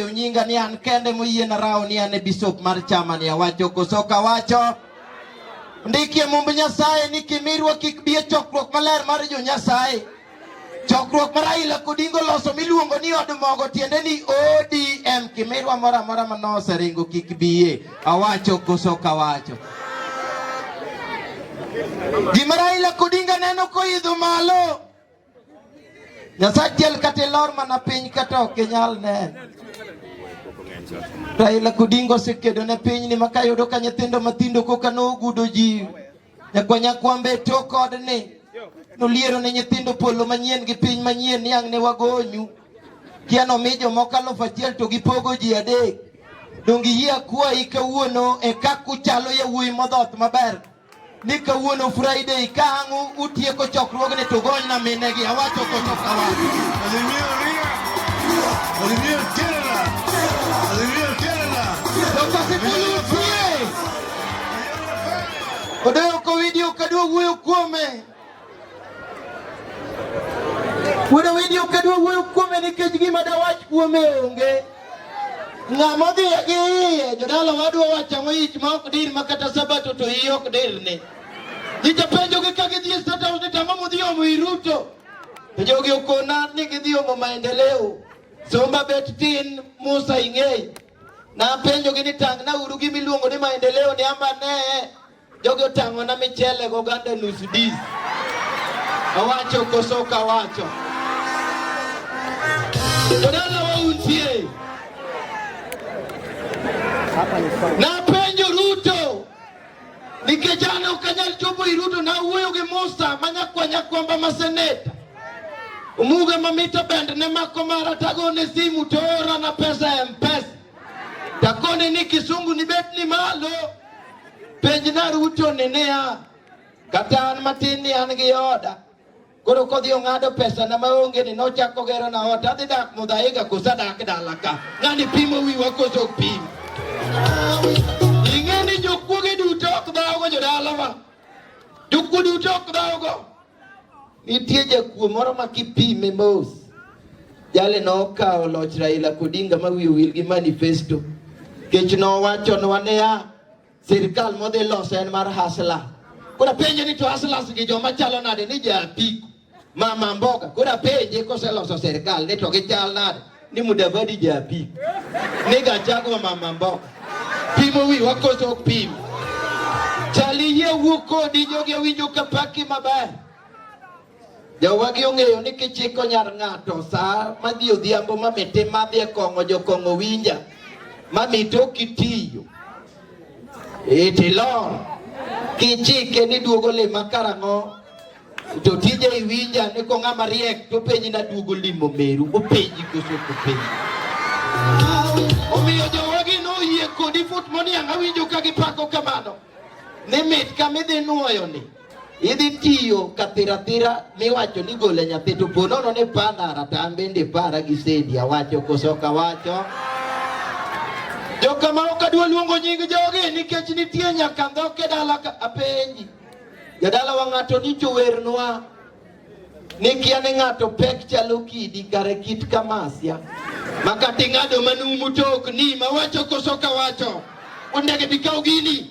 Ang'eyo nyinga ni an kende moyie na rawo ni an e bisop mar chama ni awacho koso kawacho. Ndikie mumb Nyasaye ni kimirwa kik bi e chokruok maler mar jo Nyasaye. Chokruok ma Raila Odinga oloso miluongo ni od mogo tiende ni ODM kimirwa moro amora ma noseringo kik biye. Awacho koso kawacho. Gima Raila Odinga neno koidho malo Nyasaye achiel kata ilor mana piny kata ok inyal neno. Raila Odinga osekedo ne piny ni maka yudo ka nyithindo mathindo koka nogudo ji nyakwanya kwambe e tok odni noliero ne nyithindo polo manyien gi piny manyien niang' ne wagonyu kia nomi jomoko alufu achiel to gipogo ji adek donge yie akwayi kawuono e kakuchalo yawuoyi modhoth maber ni kawuono Friday ka ang' utieko chokruogni to ugonyna minegi. Awacho kocho kawacho. Odoyo kowidi ok adwa wuoyo kuome. Wuodo wendi ok adwa wuoyo kuome nikech gima dawach kuome onge. Ng'ama odhi gi iye jodala wadwa wacho ang'o ich ma ok dir ma kata sabato to iye ok dirne. Ji japenjogi ka gidhi e State House ni tang'o mudhi omo i Ruto. To jogi okona ni gidhi omo maendeleo. Somba bet tin Musa ing'eyi. Napenjogi ni tang'na uru gimiluongo ni maendeleo ni ama nee. Jogi otang'ona michele gi oganda nus dis. Awacho koso ok awacho? Jodala wauntie. Napenjo Ruto nikech an ok anyal chopo i Ruto, nawuoyo gi Musa ma nyakwa nyakwamba ma seneta Omuga mamito bende ne mako mara tagone simu toorana pesa e Mpesa Takone ni kisungu ni bet ni malo. Penj na ruto ni niya. Kata an matin ni an gi oda. Koro kodhi ong'ado pesa na maonge ni nochako gero na ot. Adhi dak mudhaiga kosa dak dala ka. Ng'ani pimo wiwa koso pim. Ing'e ni jokuoge duto ok dhawogo jodalawa. Jokuo duto ok dhawogo. Nitie jakuo moro ma kipime mos, jale nokawo loch Raila Odinga ma wiye wil gi manifesto kech nowachonwa niya, sirkal modhi loso en mar hasla. Koro penje ni to haslas gi joma chalo nade ni ja apiko mama mboga koro apenje koseloso sirkal ni to gichal nade ni Mudavadi japi ni Gachagua mama mboka pimo wi wakoso ok pim chali yie wuok kodi jogi owinjo ka paki maber jowagi ong'eyo ni kichiko nyar ng'ato saa madhi odhiambo mamite madhi e kong'o jokong'o winja mamite ok itiyo itilor kichike ni duogo lima karang'o Jotije iwinja ni ko ng'ama riek to penji na duogo limo meru openji koso kopenji. Omiyo jowagi noyie kodi fut moniang' awinjo ka gipako kamano ni mit kama idhi nuoyo ni idhi tiyo kathiratira miwacho ni gole nyathi to po nono ni pandara to an bende para gi sendi awacho koso ok awacho jokama ok adwa luongo nying jogi nikech nitie nyaka ndhoke dala apenji Jadala wa ng'ato ni jowernwa ni kia ni ng'ato pek chalo kidi kare kit kamasia makati ng'ado manumu tok ni mawacho koso kawacho ondege bikaw gini